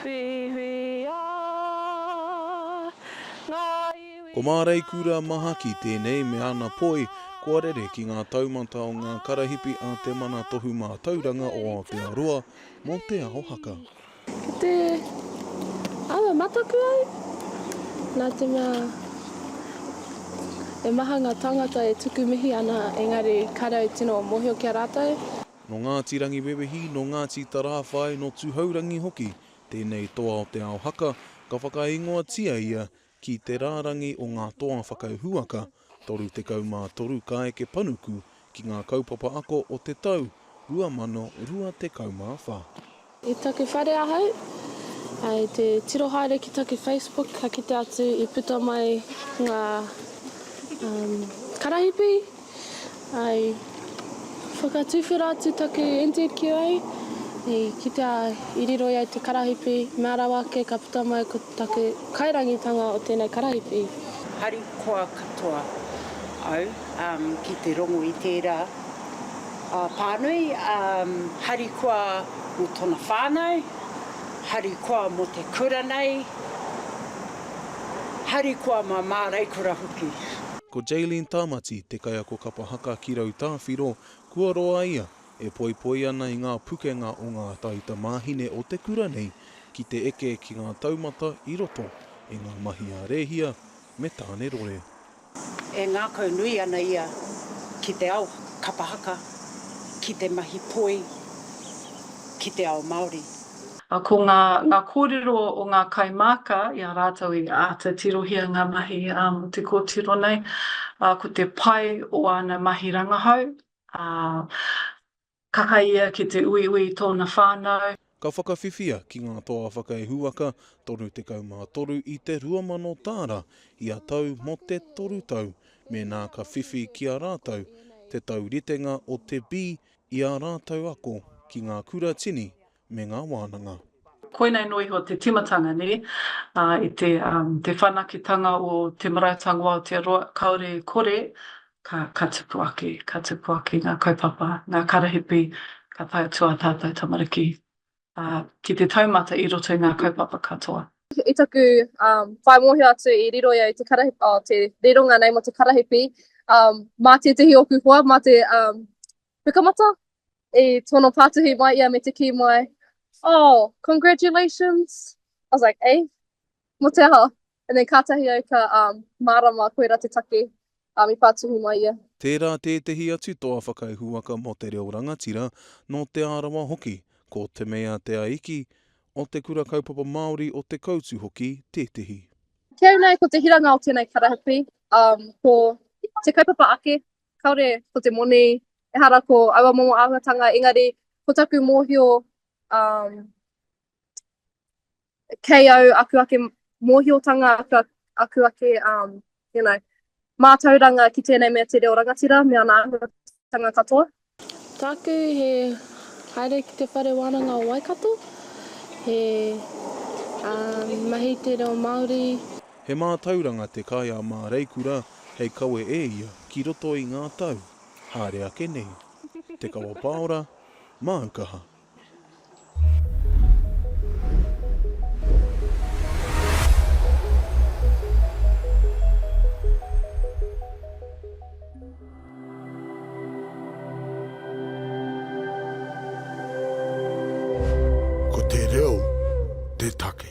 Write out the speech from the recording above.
Whiwhia ngā iwi Ko Māreikura Mahaki tēnei me ana poi kua rere ki ngā taumata o ngā karahipi a Te Mana Tohu Mātauranga o Aotearoa mō Te Ao Haka. Ki te aua mataku au, nā te mea he maha ngā tāngata e tuku mihi ana engari kāre au tino mōhio ki a rātou. Nō Ngāti Rangiwewehi, nō Ngāti Tarāwhai, nō Tūhourangi hoki tēnei toa o Te Ao Haka, ka whakaingoatia ia ki te rārangi o ngā toa whakauhuaka 33 ka eke panuku ki ngā kaupapa ako o te tau 2024. I taku whare ahau, i te tiro haere ki taku Facebook ka kite atu i puta mai nga karahipi, i whakatuwhera atu taku NZQA, i kitea i riro i au te karahipi, mea rawa ake ka puta mai ko taku kairangitanga o tenei karahipi. Harikoa katoa au ki te rongo i tera a Pānui, harikoa mō tōna whānau, harikoa mō te kura nei, harikoa mā Māreikura hoki. Ko Jaylene Tamati te kaiako kapa haka ki Rautāwhiro, kua roa ia e poipoi ana i ngā pukenga o ngā tauta māhine o te kura nei ki te eke ki ngā taumata i roto i ngā mahi a Rēhia me Tānerore. E ngākau nui ana ia ki te ao kapa haka, ki te mahi poi, ki te ao Māori. Ko ngā kōrero o ngā kaimāka i a rātou i āta tirohia ngā mahi mō te kōtiro nei, ko te pai o āna mahi rangahau, Kaha ia ki te uiui i tōna whānau. Ka whakawhiwhia ki ngā toa whakaihuwaka 33 i te 2,000 tāra ia tau mō te toru tau mēnā ka whiwhi ki a rātou te tauritenga o te bi i ā rātou ako ki ngā kuratini me ngā wānanga. Koinei noa iho te timatanga nē, ā, i te, um, te whanaketanga o Te Marautanga o Aotearoa, kāore e kore, ka, ka tupu ake, ka tupu ake ngā kaupapa, ngā karahipi ka tae atu ā tātou tamariki, ā, ki te taumata i roto i ngā kaupapa katoa. I taku, um, whai mōhio atu i riro ia i te karahipi, oh, te rironga nei mō te karahipi, um, mā tētehi o ōku hoa, mā te, um, Pukamata, i tono patuhi mai ia me te kī mai, Oh, congratulations! I was like, Eh? Mo te aha? And then kātahi au ka um, mārama koira te take um, i patuhi mai ia. Tērā tētehi atu toa whakaihuwaka mō te reo rangatira, nō Te Arawa hoki, ko Te Mea Te Aiki, o Te Kura Kaupapa Māori o Te Koutu hoki tētehi. Kei au nei ko te hiranga o tēnei karahipi, um, ko te kaupapa ake Kāore ko te moni, ehara ko aua momo āhuatanga, engari ko taku mōhio, um, kei au aku ake mōhiotanga, aku, aku ake, um, you know, mātauranga ki tēnei mea te reo rangatira me ana āhuatanga katoa. Tāku he haere ki te whare wānanga o Waikato, he uh, mahi te reo Māori. He mātauranga te kai a Māreikura hei kawe e ia ki roto i ngā tau, haere ake nei. Te Kawa Paora, māu kaha. Ko te reo te take.